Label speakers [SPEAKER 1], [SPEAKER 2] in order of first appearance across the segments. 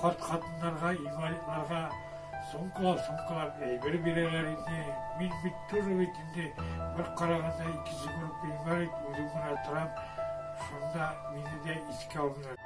[SPEAKER 1] Карт хатыннарга, инвалидларга сумкалап-сумкалап әйбер бирәләр иде. Мин бит тоже бит инде бер караганда икенче группа инвалид, үзем генә торам. Шунда мине дә искә алмыйлар.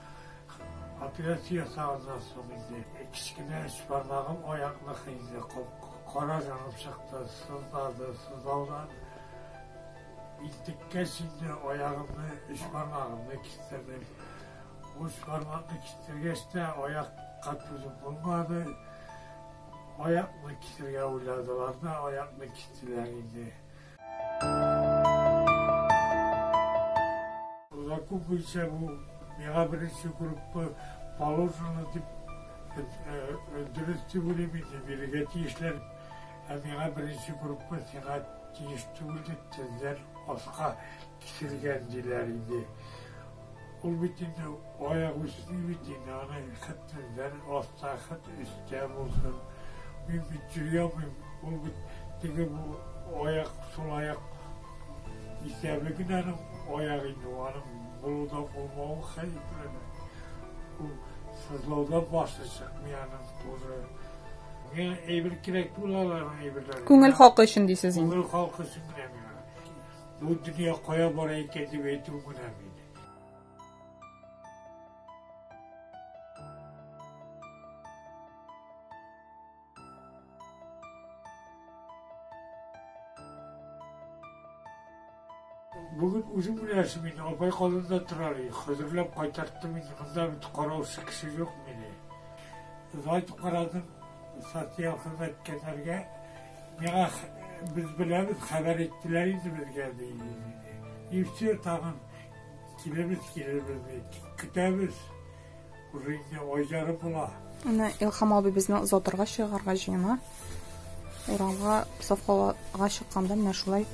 [SPEAKER 1] Операция ясаганнан соң инде кечкенә өч бармагым аякныкы инде кара җанып чыкты, сызлады, сызлаудан интеккәч инде аягымны, өч бармагымны кистердем. Уч бармакны кистергәч тә аякка түзеп булмады, аякны кисергә уйладылар да аякны кистеләр инде. Лаку буенча бу миңа беренче группа положено дип дөрес дип уйлыйм инде бирергә тиешләр ә миңа беренче группа сиңа тиеш түгел дип тезләр аска Киселгән диләр инде. Ул бит инде аягы үсми бит инде, аны хәтле бер аста, хәтле өстә булсын. Мин бит йөри алмыйм, ул бит теге бу аяк, сул аяк исәбе генә аның аягы инде, аның булуда булмавы хәерлеме? Ул сызлаудан башы чыкмый аның туры. Миңа әйбер кирәк түгел аларның әйберләре. Күңел халкы өчен дисез
[SPEAKER 2] инде. Күңел халкы өчен генә
[SPEAKER 1] миңа. Бу дөнья кая бара икән дип әйтү генә бит. Бүген үзең беләсең мин апай калында торар идем, хәзерләп кайтарттым инде, монда бит караучы кеше юк мине. Зайт карадым, социаль хезмәткәрләргә Миңа без беләбез, хәбәр иттеләр инде безгә, ди. И все, тагын килебез, килебез, ди. Көтәбез. Уже инде ай ярым була. Менә Илхам
[SPEAKER 2] абый безне озатырга чыгарга җыена. Урамга сафкалага чыкканда менә шулай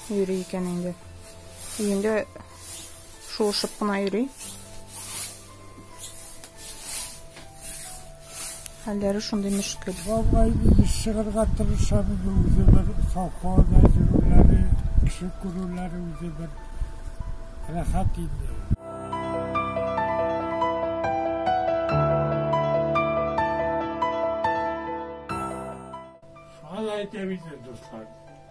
[SPEAKER 2] йөри икән инде. Өендә Шуышып кына йөри. Хәлләре шундый мөшкел. Бабай үзе
[SPEAKER 1] чыгырга тырыша бит үзе бер совхоз әзерләре, кеше күрүләре үзе бер рәхәт инде. Шулай әйтә бит инде дуслар.